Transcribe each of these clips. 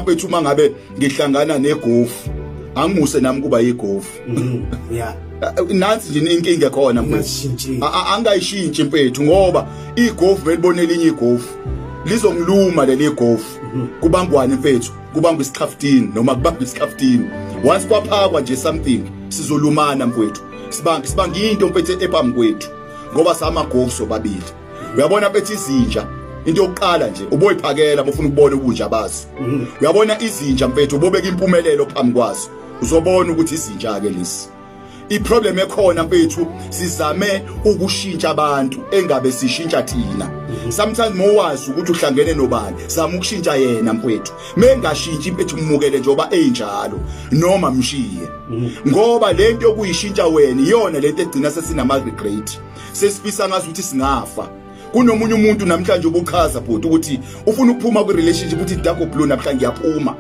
bethu uma ngabe ngihlangana negofu angimuse nami kuba yigofu mm-hmm. yeah nansi nje inkinga khona mfethu angayishintshi mfethu ngoba igofu belibona elinye igofu lizongiluma leli gofu mm-hmm. kubangwane mfethu kubangwa isikhaftini noma kubangwa isikhaftini once kwaphakwa nje something sizolumana mfethu sibanga sibanga into mfethu ephambi kwethu ngoba samagofu sobabili uyabona bethi izinja into yokuqala nje uboyiphakela bofuna ukubona ubunja bazo mhm. uyabona izinja mfethu ubobeka impumelelo phambi kwazo uzobona ukuthi izinja ke lesi iproblem ekhona mfethu sizame ukushintsha abantu engabe sishintsha thina mhm. sometimes mowazi ukuthi uhlangene nobani zama ukushintsha yena mfethu mengashintshi impethu umukele njengoba enjalo noma mshiye mhm. ngoba lento yokuyishintsha wena iyona lento egcina sesinama regret sesifisa ngazi ukuthi singafa kunomunye umuntu namhlanje ubuchaza bhuti ukuthi ufuna ukuphuma kwi-relationship ukuthi dago blue namhlanje ngiyaphuma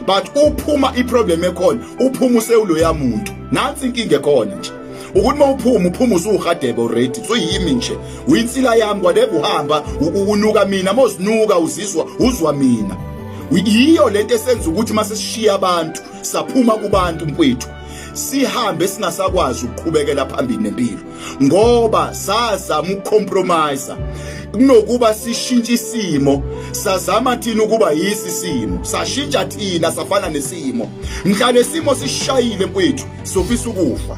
but uphuma iproblem ekhona uphuma usewuloya muntu nansi inkinga ekhona nje ukuthi uma uphuma uphuma usuhadebe already so yimi nje uyinsila yami whatever uhamba unuka mina mozinuka uzizwa uzwa mina yiyo lento esenza ukuthi mase sishiya abantu saphuma kubantu mfowethu sihambe singasakwazi ukuqhubekela phambili nempilo ngoba sazama ukucompromise kunokuba sishintshe isimo sazama thina ukuba yisi simo sashintsha thina safana nesimo mhla lesimo sishayile mfethu sofisa ukufa